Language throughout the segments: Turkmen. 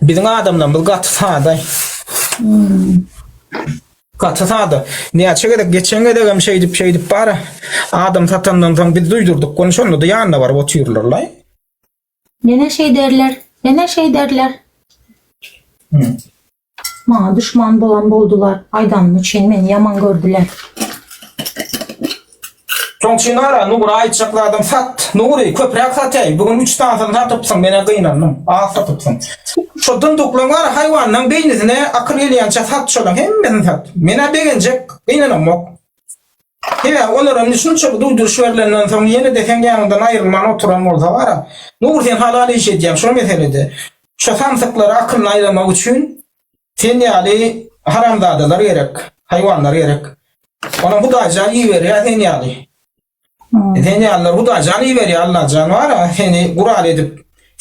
Biziň adamlarymyz gaty sada. Gaty sada. Näçe gezek geçen gezek hem şeýdip şeýdip bara. Adam satandan soň biz duýdurdyk. Ony şonda-da ýanyna baryp otyrlarlaý. Nene şeýderler, nene şeýderler. Maňa düşman bolan boldular, aýdanymy üçin meni ýaman gördüler. Soň Çynara, Nura aýtjak zadyň sat. Nury, köpräk satyaý, bu gün üç sanysyny satypsyň, men-ä gynandym, az satypsyň. Şo dyndyklaň bar haýwanynyň beýnisine akyl gelýänçä sat şolaň hemmesini sat. Men-ä begenjek, gynanamok. Sebäbi olar indi şunça bir duýduryş berlenden soň ýene-de seň ýanyňdan aýrylman oturan bolsa gara. Nur sen halal iş edýäň şo meselede. Şo samsyklary akylyny aýlamak üçin sen ýaly haramzadalar gerek, haýwanlar gerek. Onam hudaýjan iberýär sen ýaly. Sen ýalylar hudaýjan iberýär Allajan bara seni gural edip.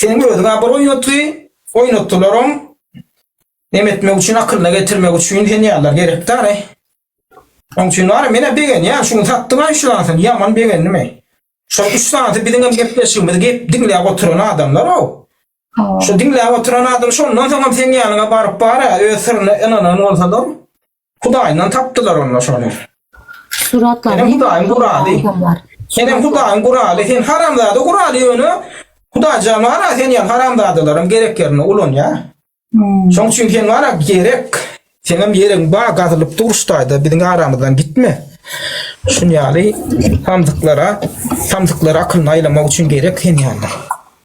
Seniň özüňä bir oýnatgy oýnatdylaram. Neme etmek üçin akylyna getirmek üçin sen ýalylar gerek dara. Oň üçin bar, menä begenýän, şuny satdyň-a üç sanysyny, ýaman begendim-e. Şol üç sanysy biziň hem gepleşigimizi gep diňläp oturan adamlar-ow. Şu diňläp oturan adam şondan soňam seň ýanyňa baryp bar-a, öz syryna ynanan bolsalar, Hudaýyndan tapdylar onda şony. Suratlar. Senem Hudaýyň guraly. Senem Hudaýyň guraly, sen haramzada guraly ýöne Hudaýjan bar-a, sen ýaly haramzadalaryň gerek ýerinde ulanýar. Şoň üçin sen bana gerek. Senem ýeriň ba gazylyp dur ştaýda biziň aramyzdan gitme. Şun ýaly samsyklara, samsyklara akylyny aýlamak üçin gerek sen ýaly.